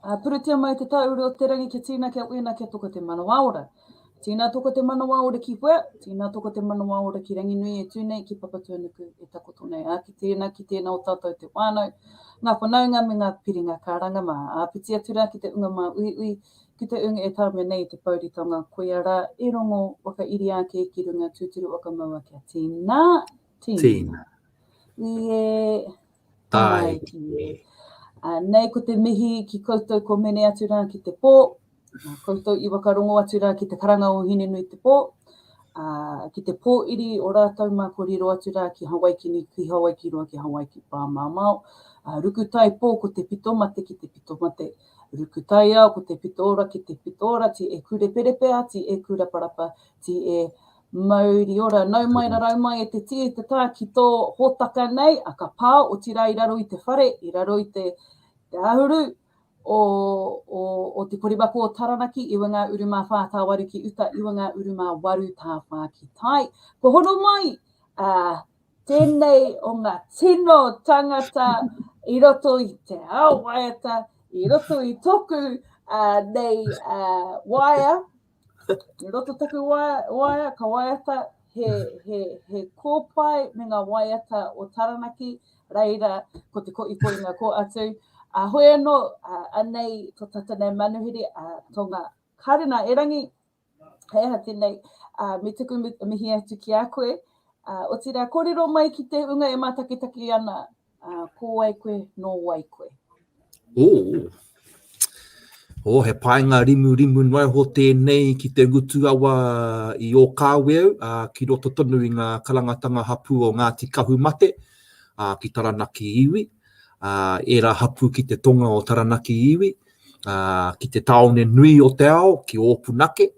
Ā, puretia mai te tāure o te rangi kia tīna kia uina kia toko te manawa ora. Tīna toko te manawa ora ki wea, tīna toko te manawa ora ki Ranginui e tū nei, ki Papatūānuku e takoto nei. Ā, ki tēnā, ki tēnā o tātou te whānau, ngā whanaunga me ngā piringa ka ranga mā. Ā, whiti atu rā ki te unga māuiui, ki te unga e tāmia nei i te pouritanga, koia rā e rongo whakairia ake ki runga tūturu o ka maua kia tīna. Tina. Ie. Tae ki e. Nei ko te mihi ki koutou ko Mene atu ra ki te po, koutou i wakarongo atu ra ki te karanga o Hinenui te po, ki te po iri o ratou ma ko riro atu ra ki Hawaiki ni ki Hawaiki roa ki Hawaiki pa mamao, ruku tai po ko te pito mate ki te pito mate, ruku tai ao ko te pito ora ki te pito ora ti e kureperepe a ti e kuraparapa ti e Mauri ora, nau mai rarau mai e te tī, e te tā ki tō hōtaka nei, a ka pā, otirā i raro i te whare, i raro i te, te āhuru o, o, o te koremako o Taranaki, iwa ngā uru mā whā tāwaru ki uta, iwa ngā uru mā waru tā whā ki tai. Ko hono mai, ā, tēnei o ngā tino tangata i roto i te ao waiata, i roto i toku ā, nei ā, waea, I roto taku waea, ka waiata he, he, he kōpae me ngā waiata o Taranaki, reira ko te ko ipo i ngā ko atu. A hoi anō, a, anei to tata nei manuhiri, a tonga karina erangi, hei aha tēnei, a, me tuku mihi atu ki a koe. A, o tira, kōrero mai ki te unga e mātakitaki ana, Ā, ko wai koe, nō wai koe? Ō! Ō, he paenga rimurimu noa iho tēnei ki te ngutu awa i Ōkāweau, ā, ki roto tonu i ngā karangatanga hapū o Ngāti Kahumate, ā, ki Taranaki iwi, ā, ērā hapū ki te tonga o Taranaki iwi, ā, ki te tāone nui o te ao, ki Ōpunake,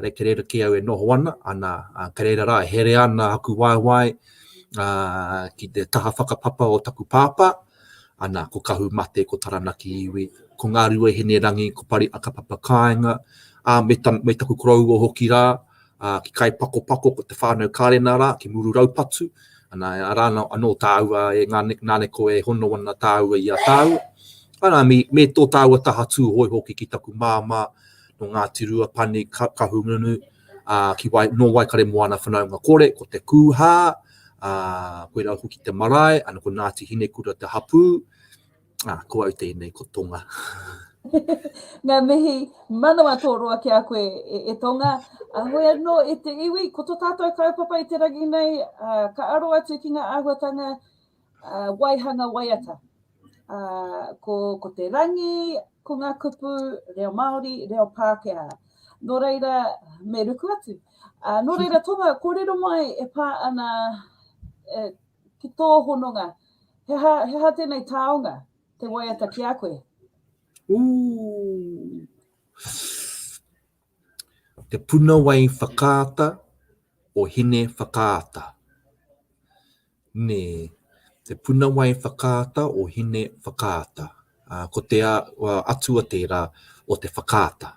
Re ke reira ki au e noho ana, ana ke reira ra e here ana aku waewae ki te taha whakapapa o taku pāpā, ana ko Kahu Mate, ko Taranaki Iwi, ko Ngarue Hinerangi, ko Pari Akapapa Kaenga, a me, me taku koroua hoki ra, ki Kaipakopako ko te whanau Karena ra, ki Muru Raupatu, ana ara ano taua e Naneko e hono ana taua i a taua, ana me, me to taua taha Tuhoe hoki ki taku mama, nō Ngāti Ruapani, Kahungunu, nō Waikare Moana Whanaunga Kore, ko Te Kūhā, koirā hoki te marae, ana ko Ngāti Hinekura te hapū, ko au tēnei, ko Tonga. Ngā mihi manawa tō roa ki a koe e Tonga. Hoi anō e te iwi, ko tō tātou kaupapa i te rangi nei, ka aro atu ki ngā āhuatanga waihanga waiata. Ko te rangi, ko ngā kupu, reo Māori, reo Pākehā. Nō reira, me ruku atu. Nō reira, Tonga, kōrero mai e pā ana ki tō hononga, he aha, he aha tēnei taonga te waiata ki a koe? Ooh. Te puna wai whakaata o Hine Whakaata. Me te punawai whakaata o Hine Whakaata. Ko te atua tērā o te whakaata.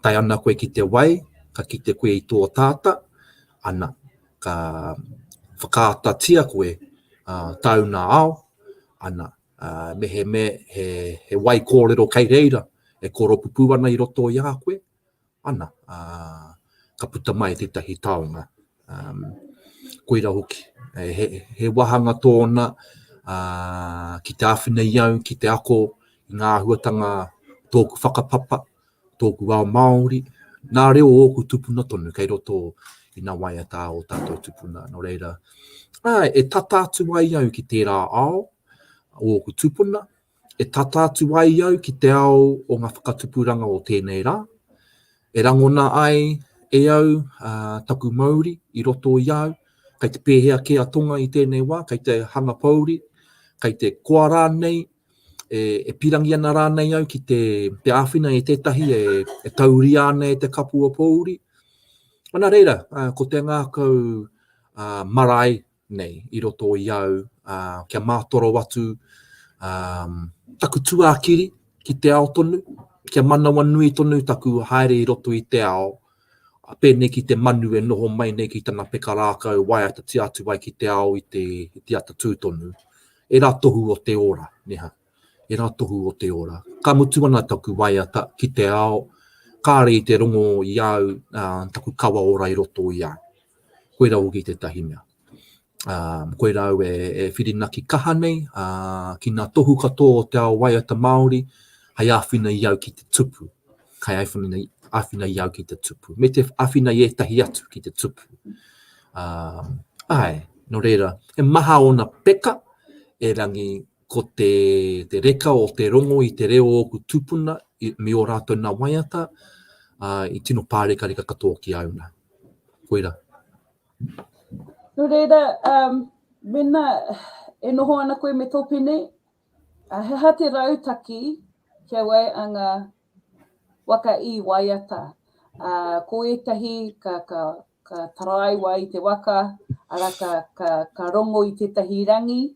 Tae ana koe ki te wai, ka kite koe i tō tata, ana, ka whakaatatia koe tāuna ao, ana, mehemea he wai kōrero kei reira e koropupū ana i roto i a koe, ana, ā, ka puta mai tētahi taonga, ā, koira hoki. He, he wāhanga tōna, ā, ki te āwhina i au, ki te ako i ngā āhuatanga tōku whakapapa, tōku ao Māori, nā reo o ōku tupuna tonu kei roto i nā waiata o tātou tupuna. Nō reira, ā, e tata atu ai au ki tērā ao o ōku tupuna, e tata atu ai au ki te ao o ngā whakatupuranga o tēnei rā, e rangona ai e au taku mauri i roto i au, kei te pēhea kē a Tonga i tēnei wā, kei te hanga pouri, kei te koa rānei, e, e pirangi ana rānei au ki te, te āwhina e tētahi e, e tauria ana e te kapua pōuri. Ana reira, ko te ngākau uh, marae nei i roto i au, ā, kia mātoro atu, ā, taku tuākiri ki te ao tonu, kia manawanui tonu taku haere i roto i te ao, pēnei ki te manu e noho mai nei ki tana peka rākau waiatatia atu ai ki te ao i te, i te ata tū tonu. E rā tohu o te ora, neha. e ra tohu o te ora. Ka mutu ana taku waiata ki te ao, kāre i te rongo i a au taku kawa ora i roto i a au. Koira hoki tētahi mea. Koira au e whirinaki kaha nei ki ngā tohu katoa o te ao waiata Māori hei āwhina i au ki te tupu, hei āwhina i au ki te tupu, me te āwhina i ētahi atu ki te tupu. Āe, nō reira, he maha ōna peka, erangi, ko te reka o te rongo i te reo o ōku tūpuna me ō rātou nā waiata, i tino pārekareka katoa ki a au nā. Koirā. Nō reira, mēnā e noho ana koe me tō pene, he aha te rautaki ki a wai a ngā waka i waiata? Ko ētahi ka taraiwa i te waka, arā, ka rongo i tētahi rangi,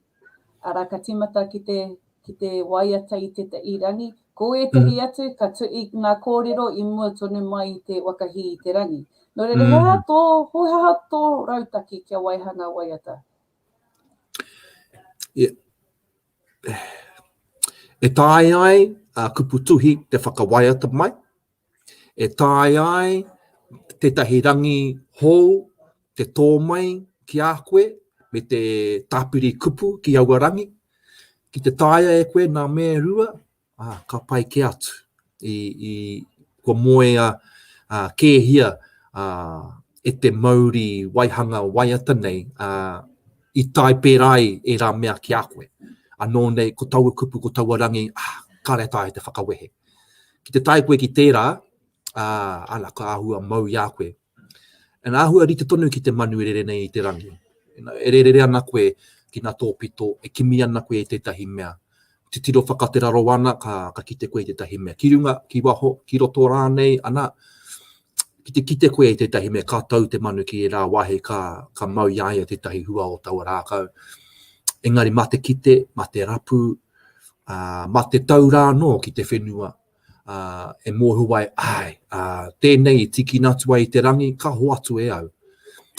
Arā, ka tīmata ki te, ki te waiata i te i rangi. Ko ētehi atu, ka tu, i ngā kōrero i mua tonu mai i te waka hī i te rangi. Nō reira, he aha tō, he aha tō rautaki kia waiha ngā waiata? Yeah. E taea ai a kupu tuhi te whakawaiata mai, E taea ai tētahi rangi hou te tō mai ki a koe me te tāpiri kupu ki aua rangi. Ki te taea e koe nā me rua, ā, ka pai kē atu i, i kua moea ā, kēhia ā, e te mauri waihanga waiata nei ā, i tae pērā ai ērā mea ki a koe. Anō nei, ko taua kupu, ko taua rangi, ā, kāre taea te whakawehe. Ki te tae koe ki tērā, ā, ana ka āhua mau i a koe. Ina āhua rite tonu ki te manu e rere nei i te rangi. Ina e rere ana koe ki ngā tōpito, e kimi ana koe i tētahi mea. Titiro whakate raro ana, ka, ka kite koe i tētahi mea. Ki runga, ki waho, ki roto rānei, ana, ki te kite koe i tētahi mea, ka tau te manu ki ērā wāhi, ka, ka mau i a ia tētahi hua o taua rākau. Engari mā te kite, mā te rapu, mā te tau rā anō ki te whenua, e mōhio ai, āe, tēnei i tīkina atu ai i te rangi, ka hoatu e au.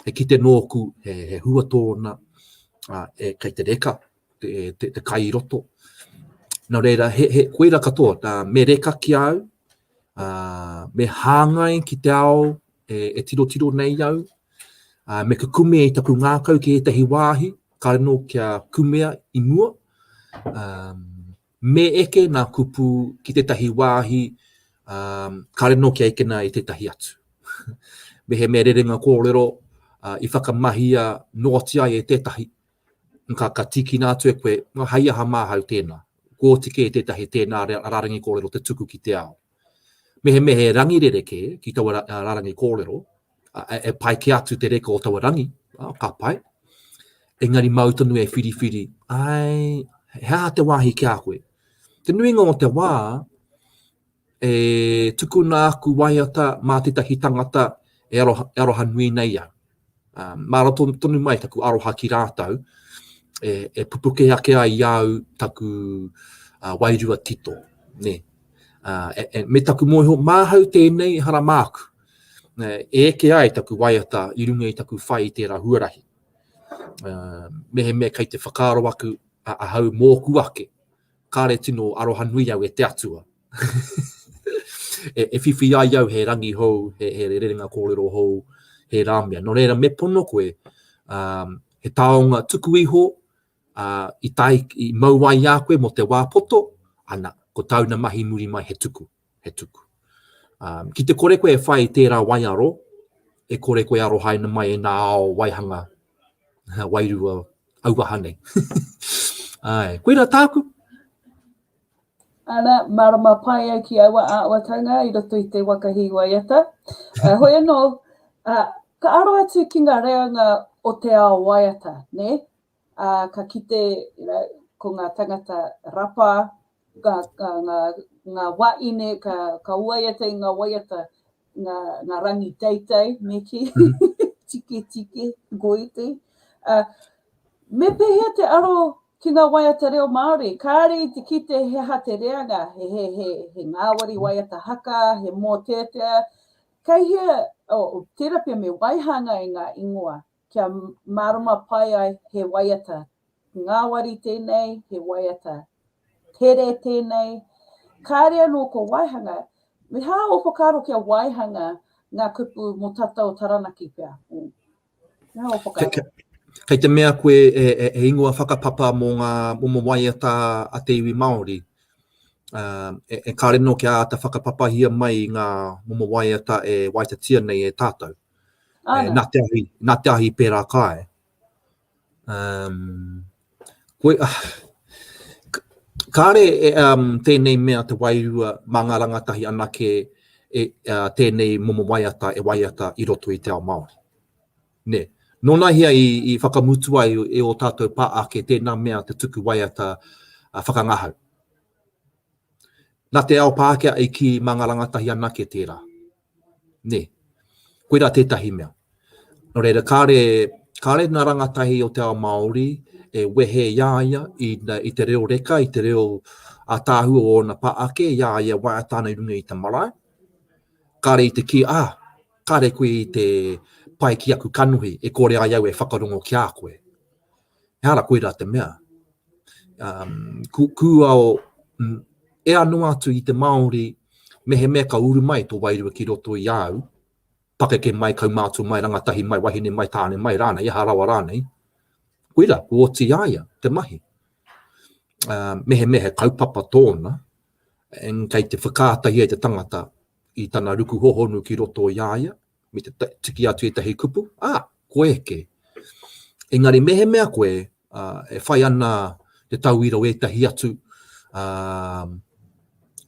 E kite nōku he hua tōna, kei te reka te kai i roto. Nō reira, he koira katoa, me reka ki a au, me hāngai ki te ao e tirotiro nei au, me kukume i taku ngākau ki ētahi wāhi, Kaino kia kumea i mua, me eke nā kupu ki tētahi wāhi kāre nō kia ekena i tētahi atu. Mehemea rerenga kōrero i whakamahia noatia ai e tētahi, ka, ka tīkina atu e koe, hei aha māhau tēnā? Kua oti kē tētahi tēnā rārangi kōrero te tuku ki te ao. Mehemehe rangi rerekē ki taua rarangi kōrero, e pai kē atu te reka o taua rangi, ka pai. Engari māu tonu e whiriwhiri, āe, he aha te wāhi ki a koe? Te nuinga o te wā, e tukuna aku waiata mā tētahi tangata e aroha nui nei au. Māra tonu mai taku aroha ki rātou, e pupuke ake ai i a au taku wairua tito, nē. Me taku mōhio, māhau tēnei ehara māku, e eke ai taku waiata i runga i taku whai i tērā huarahi. Mehemea kei te whakaaro aku ahau mōku ake, kāre tino arohanui au e te Atua. e, e whiwhi ai au he rangi hou, he, he rerenga kōrero hou, he rāmia. No reira, me pono koe, um, he taonga tuku iho, uh, i, tai, i mau ai a koe mo te wā poto, ana, ko tauna mahi muri mai he tuku, he tuku. Um, ki te kore koe e whai tērā wai aro, e kore koe aro haina mai e nā ao waihanga, wairua, auaha nei. Ai, koe rā tāku. Ana, marama pai au ki aua āwatanga i roto i te waka hī waiata. Uh, hoi anō, uh, ka aro atu ki ngā reanga o te ao waiata, ne? Uh, ka kite, you know, ko ngā tangata rapa, ngā, ngā, ngā, ngā waine, ka, ka waiata i ngā waiata, ngā, ngā rangi teitei, me ki, tiki tiki, goiti. Uh, me pēhea te aro Ki ngā waiata reo Māori, kāre i te kite he aha te reanga, he ngāwari waiata haka, he mōteatea, kei hea, oh, tērā pea me waihanga e ngā ingoa, kia mārama pai ai he waiata, ngāwari tēnei, he waiata tere tēnei, kāre anō ko waihanga, me hā ō whakaaro kia waihanga ngā kupu mō tata o Taranaki pea. Kei te mea koe he ingoa whakapapa mō ngā momo waiata a te iwi Māori. E kare nō kia āta whakapapahia mai ngā momo waiata e waiatatia nei e tātou. Nā te ahi pērā kāe. Um, koe, ah, kāre e, um, tēnei mea te wairua mā ngā rangatahi anake e, uh, tēnei momo waiata e waiata i roto i te ao Māori. Ne, nōna hea i, i whakamutu ai e o tātou pā ake tēnā mea te tuku waiata uh, whakangahau. Nā te ao Pākehā i ki mā ngā rangatahi anake tērā. Nē. Koirā tētahi mea. Nō reira, kāre, kāre ngā rangatahi o te ao Māori e wehe i a ia i, i te reo reka, i te reo ātaahua o ōna pā ake, i a ia waiata ana i runga i te marae. Kāre i te kī, ah, kāre koe i te pai ki aku kanohi, e kore ai au e whakarongo ki a koe. Ehara koirā te mea, kūao ea noa atu i te Māori mehemea ka uru mai tō wairua ki roto i a au, pakeke mai, kaumātua mai, rangatahi mai, wahine mai, tāne mai rānei, aha rawa rānei, koirā, kua oti i a ia te mahi. Mehemea he kaupapa tōna, kei te whakaata ia i te tangata i tana ruku hohonu ki roto i a ia, me te tiki atu etahi kupu, a, koe eke. Engari mehemea koe e whai ana te tauira o etahi atu,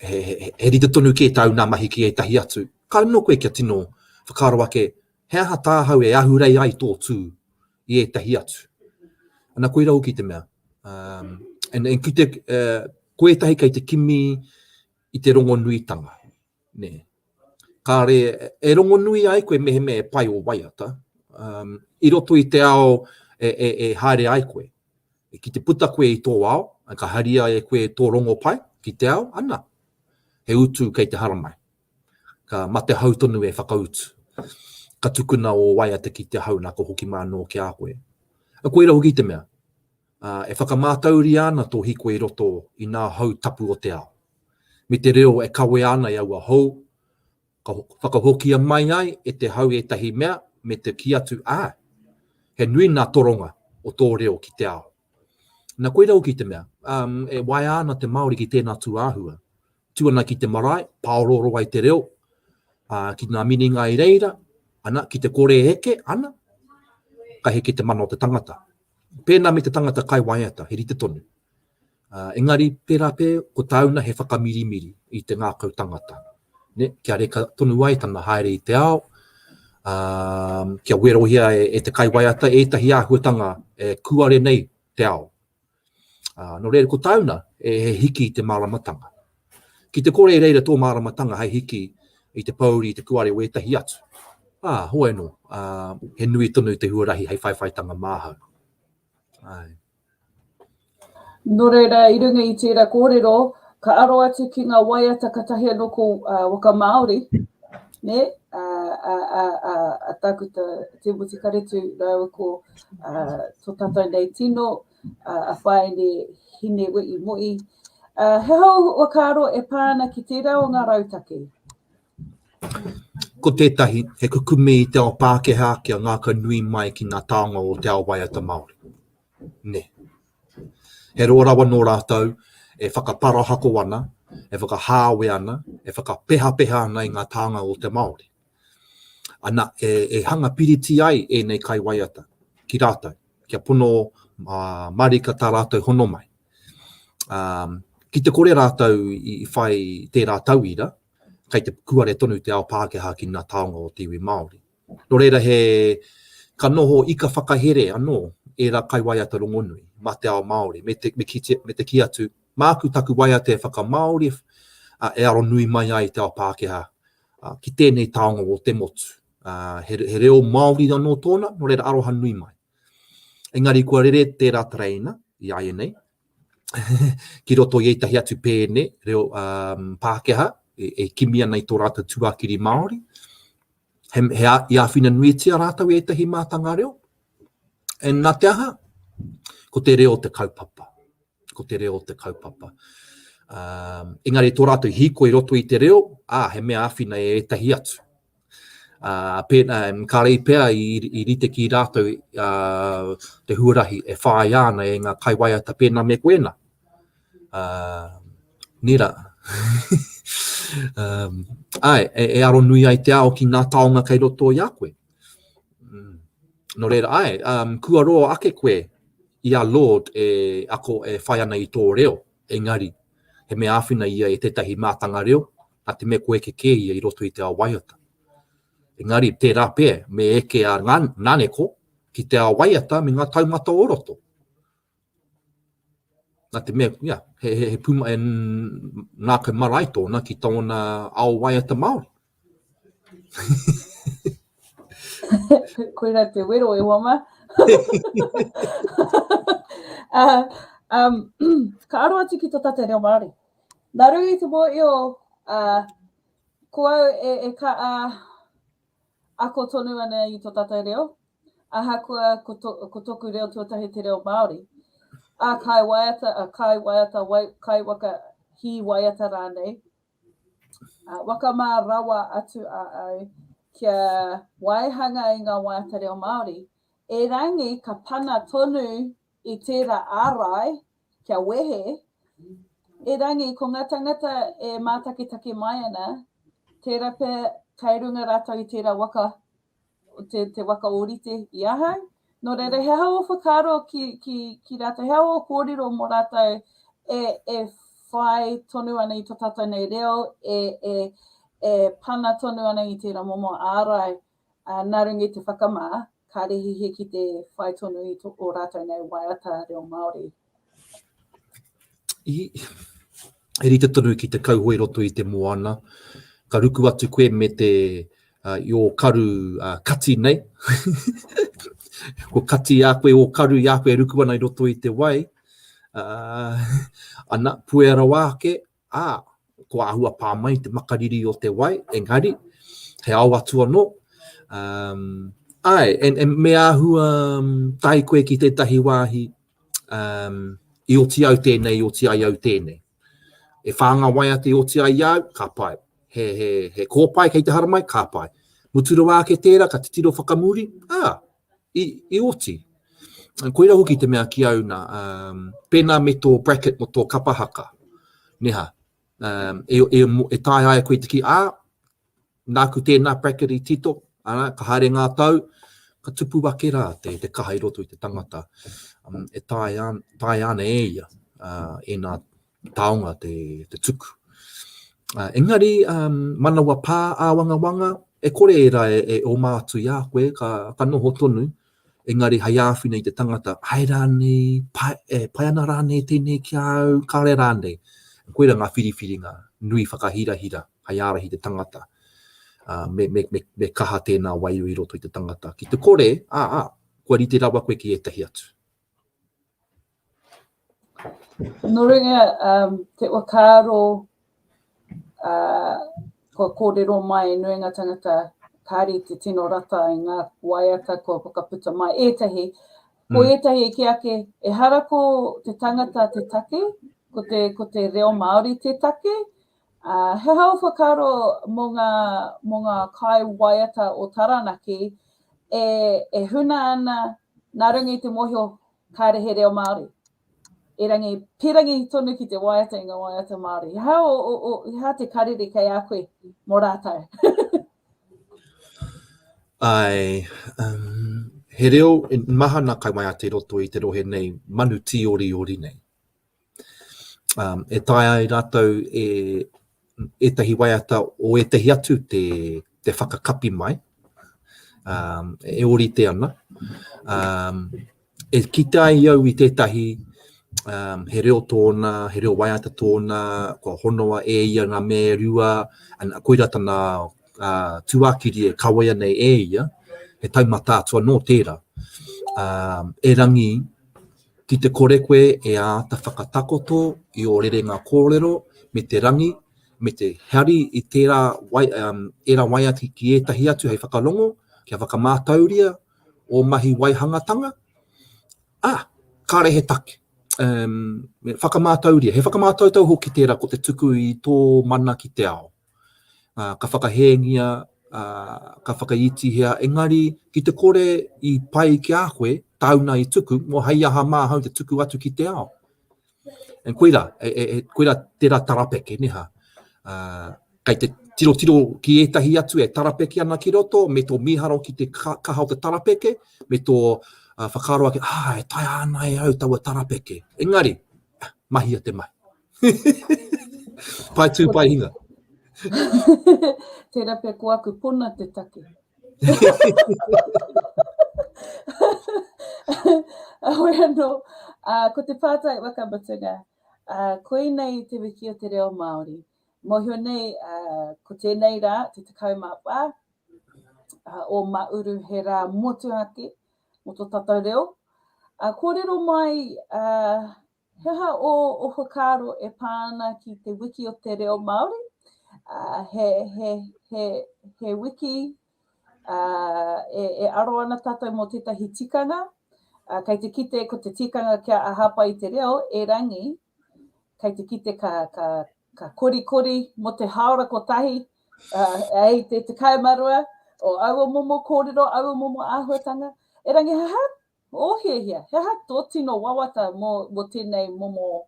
he rite tonu kē tāu nā mahi ki etahi atu, ka luno koe kia tino whakaaro ake, he aha tāhau e ahurei ai tō tū i etahi atu. Ana koira hoki te mea. Ko etahi kei te kimi i te rongonuitanga. Nē. Kāre e rongonui ai koe mehemea e pai ō waiata, i roto i te ao e haere ai koe. Ki te puta koe i tō ao, ka haria e koe tō rongo pai ki te ao, ana, he utu kei te haramai. Ka mate hau tonu e whakautu. Ka tukuna ō waiata ki te hau nā ka hoki mā anō ki a koe. Koira hoki te mea. ā, e whakamātauria ana tō hiko i roto i ngā hau tapu o te ao. Me te reo e kawea ana e aua hou, ka whakahokia mai ai e te hau ētahi mea me te kī atu, ā, he nui ngā toronga o tō reo ki te ao. Na koira hoki te mea, ā, e waea ana te Māori ki tēnā tū āhua. Tū ana ki te marae, pāorooro ai te reo, ā, ki ngā minenga i reira, ana, ki te kore e heke, ana, ka heke te mana o te tangata. Pēnā me te tangata kai waiata, he rite tonu. Engari, pērā pē, ko tāuna he whakamirimiri i te ngākau tangata. Ne, kia reka tonu ai tana haere i te ao, ā, kia werohia e, e te kai waiata ētahi āhuatanga e kuare nei te ao. Ā, nō reira, ko tāuna, he hiki i te māramatanga. Ki te kore i reira tō māramatanga hei hiki i te pōuri i te kuare o ētahi atu, ā, hoi anō, ā, he nui tonu te huarahi hei whaiwhaitanga māhau. Āe. Nō reira, i runga i tērā kōrero, ka aro atu ki ngā waiata katahi anō ko Waka Māori, nē, a, a, a, a, a Tākuta Timoti Karetu rāua ko a, tō tātou nei tino, a Whaene Hinewe'i-Mo'i, he hou whakaaro e pā ana ki tērā o ngā rautaki? Ko tētahi, he kukume i te ao Pākehā kia ngākau nui mai ki ngā taonga o te ao waiata Māori. Nē. He roa rawa nō rātou e whakaparahako ana, e whakahāwea ana, e whakapehapeha ana i ngā taonga o te Māori. Ana, e hanga piriti ai ēnei kaiwaiata ki rātou, kia pono mārika tā rātou hono mai. Ki te kore rātou i whai tērā tauira, kei te pukuare tonu te ao Pākehā ki ngā taonga o te iwi Māori. Nō reira he, ka noho ika whakahere anō ērā kaiwaiata rongonui mā te ao Māori, me te kī atu, māku taku waiata e whakamāori, e aro nui mai ai te ao Pākehā ki tēnei taonga o te motu. He reo Māori anō tōna, nō reira aroha nui mai. Engari kua rere tērā tereina, i āianei, ki roto i ētahi atu pēne reo Pākehā, e kimi ana i tō rātou tuakiri Māori, he, he a, i āwhina nuitia rātou i ētahi mātanga reo, And nā te aha, ko te reo te kaupapa. Ko te reo te kaupapa. Um, engari tō rātou hiko i roto i te reo, ā, ah, he mea awhina e ētahi atu. Uh, pēna, um, ka rei pea i, i rite ki rātou uh, te huarahi e whāi ana e ngā kaiwaiata pēna me koena. Uh, nera. um, ai, e, e aro nui ai te ao ki ngā taonga kei roto i a koe. Mm. No reira, ai, um, kua roa ake koe i a Lord e ako e whai ana i tō reo, engari, he mea āwhina ia e tētahi mātanga reo, a te me koe ke kē ia i roto i te ao waiata. Engari, tērā pē, me eke a ngā naneko ki te ao waiata me ngā taumata o roto. Nā te mea, ia, he, he, he puma, he ngākau marae tōna ki tōna ao waiata Māori. Koira te wero e wama. uh, um, ka aro atu ki to tata reo Māori. Nā runga i te mō eo, uh, ko au e, e ka, uh, Ako tonu ana i tō tātou reo, ahakoa ko tōku reo tuatahi te reo Māori. Ā, kai waiata, kai waiata, kai waka, hī waiata rānei, waka mā rawa atu a au kia waihanga i ngā waiata reo Māori, erangi ka pana tonu i tērā ārai kia wehe, erangi ko ngā tangata e mātaketake mai ana, tērā pea kai runga rātou i tērā waka, te, te waka ōrite i ahau. Nō reira, he hao whakaaro ki, ki, ki rātou, he hao kōrero mō rātou e, e whai tonu ana i to tātou nei reo, e, e, e pana tonu ana i tērā momo ārai Ā, nā runga i te whakamā, kāre he hē ki te whai tonu i ō rātou nei waiata reo Māori. Ii, He rite tonu ki te kauhoe i roto i te moana, ka ruku atu koe me te, uh, i ō karu uh, kati nei. Ko kati i a koe, ō karu i a koe e ruku ana i roto i te wai. Uh, ana, puea rawa ake, ā, kua āhua pā mai te makariri o te wai, engari, he ao atu anō, āe, e, e, me āhua tae koe ki tētahi wāhi, um, i oti au tēnei, i oti ai au tēnei. E whānga wai ate i oti ai au, ka pai. He, he, he kōpai kei te haramai, ka pai. Mutu rawa ake tērā, ka titiro whakamuri, ā, i oti. Koira hoki te mea ki au na, pena me to bracket mo to kapa haka, neha, e tae ai koe te ki, a, naku tena bracket i tito, ana, ka haere nga tau, ka tupu ake ra te kaha i roto i te tangata, e taea ana e ia ena taonga te tuku. Engari, manawa pā āwangawanga, e kore ērā e oma atu i a koe, ka noho tonu, engari hei āwhina i te tangata, ae rānei, e pai ana rānei tēnei ki a au, kāre rānei. Koira ngā whiriwhiringa nui whakahirahira hei ārahi i te tangata, me kaha tēnā waiū i roto i te tangata. Ki te kore, ā, kua rite rawa koe ki ētahi atu. No runga um, te whakaaro uh, kua kōrero mai e nuinga tangata kāre te tino rata i ngā waiata kua whakaputa mai. Ētahi, ko mm. ētahi e ki ake, e hara ko te tangata te take, ko te, ko te reo Māori te take, uh, he hao whakaaro mō ngā, mō ngā kai waiata o Taranaki, e, e huna ana nā runga i te mōhio Kāre he reo Māori. Erangi, pērangi tonu ki te waiata i ngā waiata Māori. He aha, o, o, o, he aha te karere kei a koe mō rātou? Ai, um, he reo, mahana kai mai a te roto i te rohe nei, manu tī oriori nei. e taea ai rātou e ētahi waiata o ētahi atu te, te whakakapi mai, um, e orite ana. Um, e kite ai au i tētahi um, he reo tōna, he reo waiata tōna, kua honoa e ia ngā me rua, an, koira tana uh, tuakiri e kawea nei e ia, he taumata atua nō tērā. Um, erangi, Ki te kore koe e āta whakatakoto i ō rerenga kōrero me te rangi, me te hari i tērā ērā waiata ki ētahi atu hei whakarongo, kia whakamātauria ō mahi waihangatanga, ā, kāre he take, whakamātauria, he whakamātautau hoki tērā ko te tuku i tō mana ki te ao. Ka whakahēngia, ka whakaitihia, engari ki te kore i pai ki a koe, tāuna i tuku, mō hei aha mā ahau te tuku atu ki te ao? And koira, koira tērā tarapeke, nē hā? Kei te tirotiro ki ētahi atu e tarapeke ana ki roto, me tō mīharo ki te kaha o te tarapeke, me tō whakaaro ake, ā, e taea ana e au taua tarapeke. Engari, mahia te mahi. pai tū, pai hinga. Tērā pē ko aku pona te take. Awe anō, uh, ko te pātai wakamutunga, uh, koinei te wiki o te reo Māori. Mohio nei, uh, ko tēnei rā, te tekau mā pā, uh, o Mauru he rā motuhake, mo to tatou reo. Uh, kōrero mai, uh, He aha ō whakaaro e pā ana ki te wiki o te reo Māori? He, he, he, he wiki uh, e, e aro ana tātou mō tētahi tikanga. Uh, kei te kite ko te tikanga kia ahapa i te reo, erangi, kei te kite ka, ka, ka korikori mo te haora kotahi, uh, ei te te kaemarua, o aua momo kōrero, aua momo āhuatanga. E rangi, ha, ha, Oh he hea, he aha tō tino wawata mō mō tēnei momo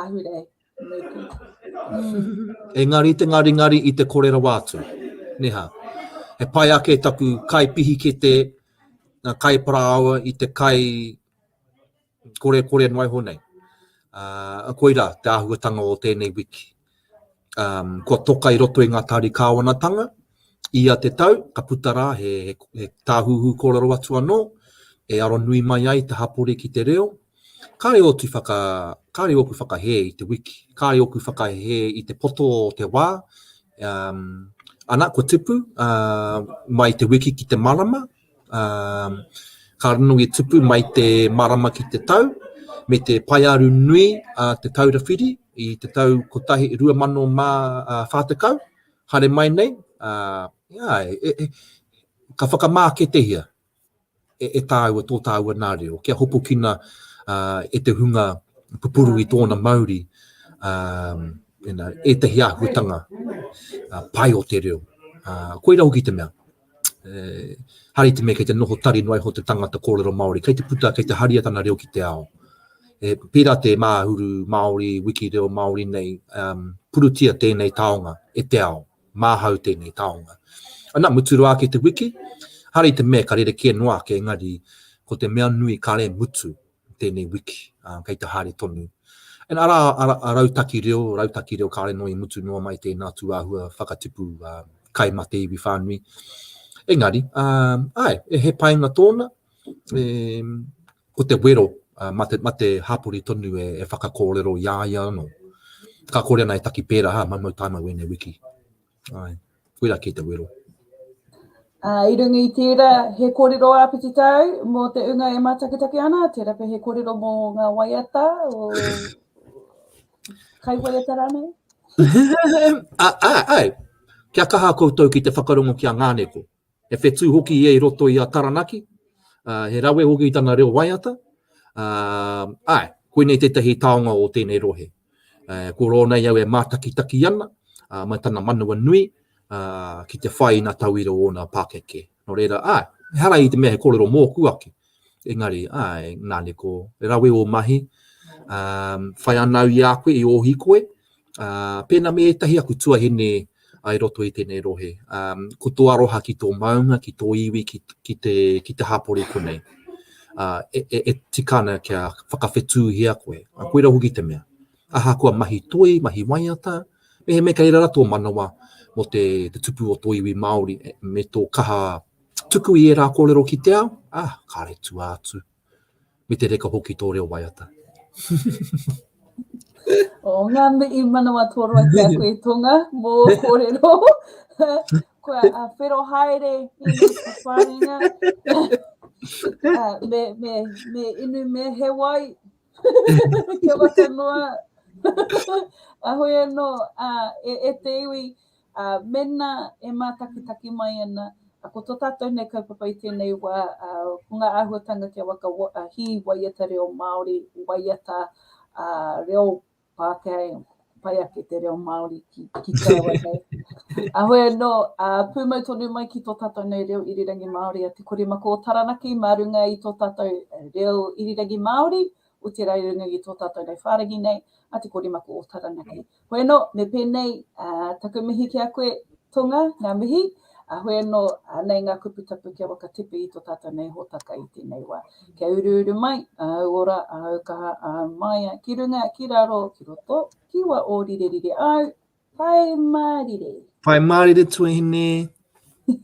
ahurei? Engari te ngaringari i te kore rawa atu, neha. He pai ake taku kai pihikete, ngā kai parāoa i te kai kore kore noa iho nei. Uh, koira te āhuatanga o tēnei wiki. Um, kua toka i roto i ngā tāri kāwanatanga, ia te tau, ka puta rā he, he, he tāhuhu kōrero atu anō, e aro nui mai ai te hapori ki te reo, kāre oti whaka, kāre oku whakahē i te wiki, kāre oku whakahē i te poto o te wā, um, ana, kua tipu uh, mai te wiki ki te marama, Ka rongonui tupu mai te marama ki te tau, me te paearu nui a Te Taura Whiri i te tau 2040, haere mai nei, ka whakamāketehia e tāua tō tāua nā reo, kia hopukina e te hunga pupuru i tōna mauri ētahi āhuatanga pai o te reo. Koira hoki te mea. hari te mea kei te noho tari noa iho te tangata kōrero Māori, kei te puta, kei te haria tana reo ki te ao. E, pērā te māhuru Māori, wiki reo Māori nei, um, purutia tēnei taonga e te ao, māhau tēnei taonga. Ana, muturua ake te wiki, hari te mea ka rerekē noa ake, engari, ko te mea nui kare mutu, tēnei wiki, ā, kei te haere tonu. And arā a Rautaki Reo, Rautaki Reo kāre noa i mutu noa mai tēnā tūāhua whakatipu kai mā te iwi whānui. Engari, āe, he painga tōna, ko te wero mā te, mā te hapori tonu e whakakōrero i a ia anō. Ka kore ana e taki pērā, hā, maumau tāmau ēnei wiki. Ae, koira kei te wero. Ā, i runga i tērā, he kōrero āpiti tāu mō te ūnga e mātakitaki ana, tērā pea he kōrero mō ngā waiata o kai waiata rānei? Āe, kia kaha koutou ki te whakarongo ki a Ngāneko. He whetū hoki ia i roto i a Taranaki, ā, he rawe hoki tana reo waiata, ā, āe, koinei tētahi taonga o tēnei rohe. Ā, ko rōna i au e mātakitaki ana, ā, mai tana manawa nui, ā, ki te whai ina tauira o ōna pākeke. Nō reira, āe, ehara i te mea he kōrero mōku ake, Engari, ae, nane ko, he rawe o mahi, whai anau i a koe, i o hikoe, pena me etahi aku tuahine ai roto i tenei rohe. Ko to aroha ki to maunga, ki to iwi, ki te, ki te hapori konei. E tika ana kia whakawhetūhia koe, a koira hoki te mea. Ahakoa mahi toi, mahi waiata, mehemea kei rara to manawa mo te tupu o to iwi Māori, me to kaha, Tuku i ērā kōrero ki te ao, ā, kāre tua atu. Me te reka hoki tō reo waiata. O ngā mihi manawa toroa ki a koe Tonga mō ō kōrero. Kua whero haere i ngā whawharinga. Me inu me he wai. Kia waka noa. Ahoi anō e te iwi. Ā, mēnā e mātakitaki mai ana, ā, ko tō tātou nei kaupapa i tēnei wā, ā, ko ngā āhuatanga kia waka, ā, hī waiata reo Māori, waiata, ā, reo Pākehā, ē, pai ake te reo Māori ki, ki te rawa nei. Ahoi anō, ā, pūmau tonu mai ki tō tātou nei reo irirangi Māori a Te Korimako o Taranaki mā runga i tō tātou reo irirangi Māori, o te raurungu i tō tātou rau whāriki nei a Te Koremako o Taranaki. Hoi anō, me pēnei taku mihi ki a koe, Tonga, ngā mihi. Hoi anō, nei ngā kupu tapu kia whakatepe i tō tātou nei hōtaka i tēnei wā. Kia uruuru mai āu ora, āu kaha, āu māia, ki runga, ki raro, ki roto, ki wā ō rirerire āu, Pai Mārire! Pai Mārire Tuahine!